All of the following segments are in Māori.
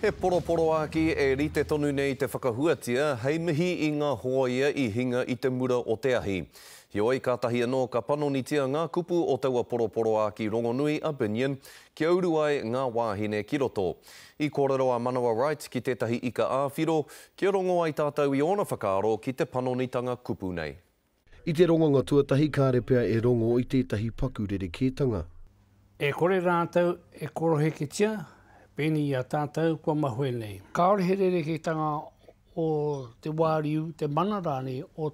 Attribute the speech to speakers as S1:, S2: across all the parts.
S1: He poroporoāki e rite tonu nei te whakahuatia hei mihi i ngā hōia i hinga i te mura o te ahi. Heoi, kātahi anō ka panonitia ngā kupu o taua poroporoāki rongonui a Binion kia uru ai ngā wāhine ki roto. I kōrero a Manawa Wright ki tētahi ika ā-whiro kia rongo ai tātou i ōna whakaaro ki te panonitanga kupu nei. I te ronganga
S2: tuatahi kāre pea e rongo i tētahi paku rerekētanga. E kore
S3: rātou e koroheketia pēnei i a tātou kua mahue nei. Kāore he rerekētanga o te wāriu, te mana rānei o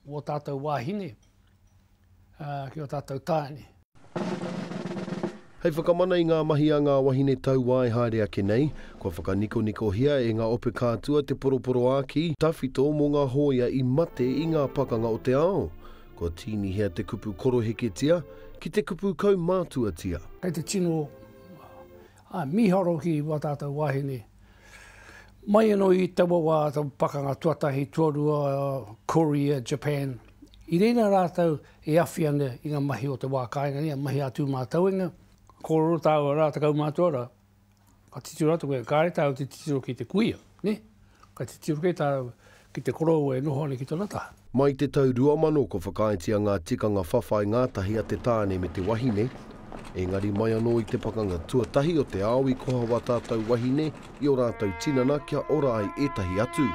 S3: ō tātou wāhine ki ō tātou tāne.
S2: Hei whakamana i ngā mahi a ngā wahine tauā e haere ake nei, kua whakanikonikohia e ngā ope kātua te poroporoākī tawhito mō ngā hōia i mate i ngā pakanga o te ao. Kua tīnihia te kupu koroheketia ki te kupu kaumātuatia. Kei te tino
S3: mīharo ki wā tātou wāhine. Mai anō i taua wā, taua pakanga tuatahi, tuarua, Korea, Japan, i reira rātou e awhi ana i ngā mahi o te wā kāinga nei, a mahi ā-tū mātauenga. Kōrero tāua rā, tekau mā tua rā, ka titiro atu koe, kāre tāu te titiro ki te kuia, nē? Ka titiro kē tāu Ki te korou e noho ana ki tana taha. Mai te tau 2000
S2: ko whakaaetia ngā tikanga whawhai ngātahi a te tāne me te wahine, engari mai anō i te pakanga tuatahi o te ao i koha wā tātou wahine i o rātou tinana kia ora ai ētahi atu.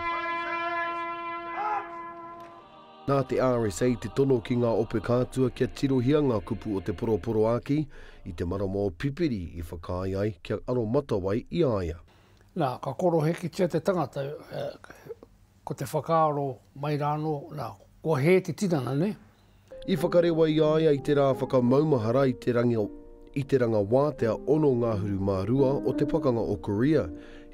S2: Nā te RSA te tono ki ngā ope kātua kia tirohia ngā kupu o te poroporoāki i te marama o Pipiri i whakaae ai kia aromatawai i a ia. Nā, ka
S3: korohekitia te tangata, ko te whakaaro mai rānō, nā, kua hē te tinana, nē. I whakarewa
S2: i a ia i te rā whakamaumahara i te rangi o, i te rangawātea ono ngahuru mā rua o te pakanga o Korea,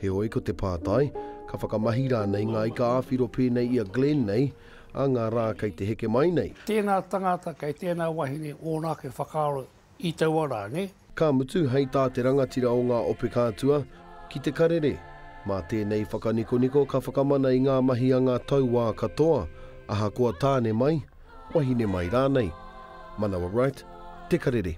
S2: heoi ko te pātai, ka whakamahi rānei ngā ika-ā-whiro pēnei i a Glenn nei, ā ngā rā kei te heke mai nei? Tēnā tangata
S3: kei tēnā wahine ōna ake whakaaro i taua rā, nē? Ka mutu, hei tā
S2: te rangatira o ngā ope kātua, ki te karere, mā tēnei whakanikoniko ka whakamana i ngā mahi a ngā tauā katoa, ahakoa tāne mai, wahine mai rānei. Manawa Wright, Te Karere.